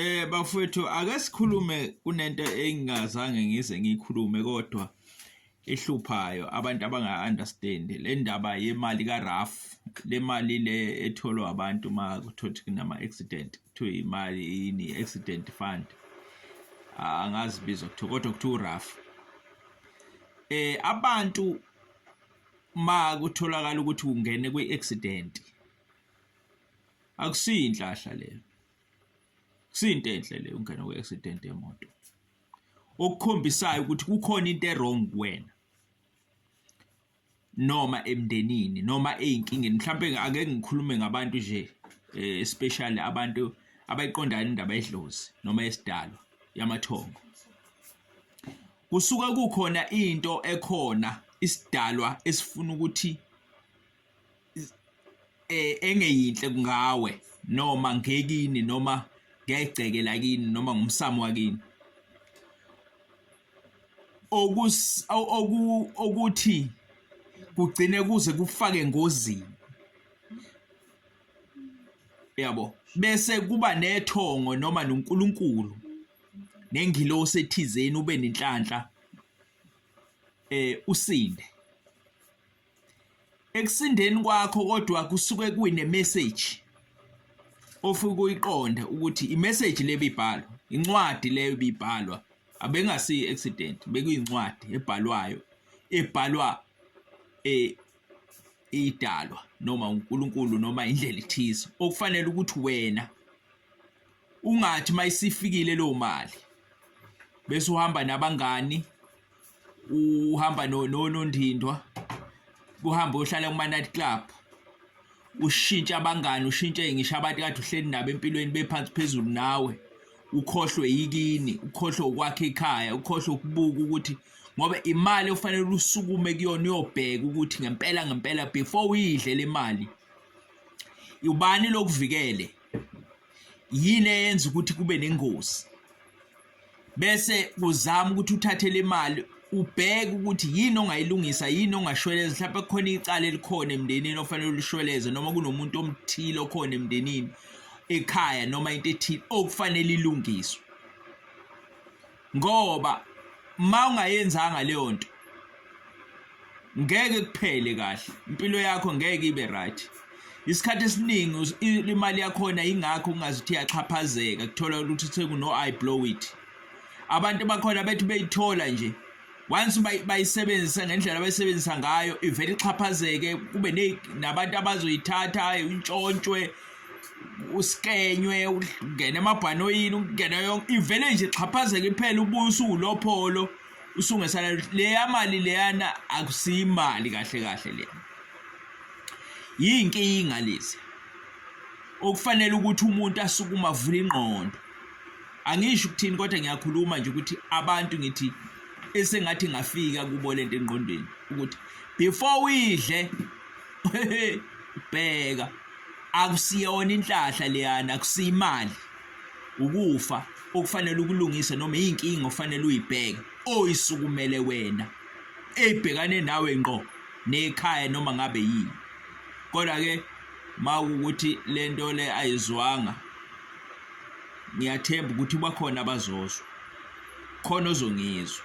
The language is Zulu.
Eh bafowethu ake sikhulume kunento engingazange ngize ngikhulume kodwa ehluphayo abantu abanga understand le ndaba yemali ka RAF le mali le etholwa abantu uma kuthothi kunama accident kuthiwa imali yini accident fund angazi bizo kuthiwa kodwa kuthiwa RAF eh abantu ma kutholakala ukuthi ungene kwi accident akusiyi inhlahla leyo kusiyinto enhle leyo ungena kwi-accident yemoto okukhombisayo ukuthi kukhona into erong kuwena noma emndenini noma ezinkingeni mhlawumbe ake ngikhulume ngabantu nje eh, especially abantu abayiqondayo indaba yedlozi noma yesidalo yamathongo kusuka kukhona into ekhona isidalwa esifuna ukuthi eh, engeyinhle kungawe noma ngekini noma ngegceke lakini noma ngumsamo wakini okus oku okuthi kugcine kuze kufake engozini yabo bese kuba nethongo noma noNkulunkulu nengilosi ethizeni ube nenhlanhla eh usinde ekusindeni kwakho kodwa kusuke kuyine message ofika uyiqonde ukuthi i message le bibhalo incwadi leyo bibhalwa abengasi accident bekuyincwadi ebhalwayo ebhalwa eh idalwa noma uNkulunkulu noma indlela ithize okufanele ukuthi wena ungathi mayisifikile lo mali bese uhamba nabangani uhamba nonondindwa kuhamba uyohlala kuma-night club ushintshe abangani ushintshe ngisho abantu kade uhleli nabo empilweni bephansi phezulu nawe ukhohlwe yikini ukhohlwe ukwakha ikhaya ukhohlwe ukubuka ukuthi ngoba imali ofanele usukume kuyona uyobheka ukuthi ngempela ngempela before uyidle le mali ubani lokuvikele yini eyenza ukuthi kube nengozi bese kuzama ukuthi uthathe le mali ubheke ukuthi yini ongayilungisa yini ongashweleza mhlawumbe kukhona icala elikhona emndenini ofanele ulishweleze noma kunomuntu omthile okhona emndenini ekhaya noma into ethile okufanele ilungiswe ngoba uma ungayenzanga leyo nto ngeke kuphele kahle impilo yakho ngeke ibe right isikhathi esiningi imali yakhona ingakho ungazithi yaxhaphazeka kuthola ukuthi sekuno i blow it abantu bakhona bethi beyithola nje once bayisebenzisa ngendlela abayisebenzisa ngayo ivele ixhaphazeke kube nabantu abazoyithatha intshontshwe usikenywe ungene emabhanoyini ungene yonke ivele nje ixhaphazeke iphela ubuye usuku lopholo usungesana leya mali leyana akusiyimali kahle kahle le yinkinga lezi okufanele ukuthi umuntu asukume avule ingqondo angisho ukuthini kodwa ngiyakhuluma nje ukuthi abantu ngithi esengathi ngafika kubo lento engqondweni ukuthi before uyidle bheka akusiyona inhlahla leyana akusiyimali ukufa okufanele ukulungisa noma inkinga ofanele uyibheke oyisukumele wena ebhekane nawe ngqo nekhaya noma ngabe yini kodwa ke mawukuthi lento le ayizwanga ngiyathemba ukuthi bakhona abazozwa khona ozongizwa.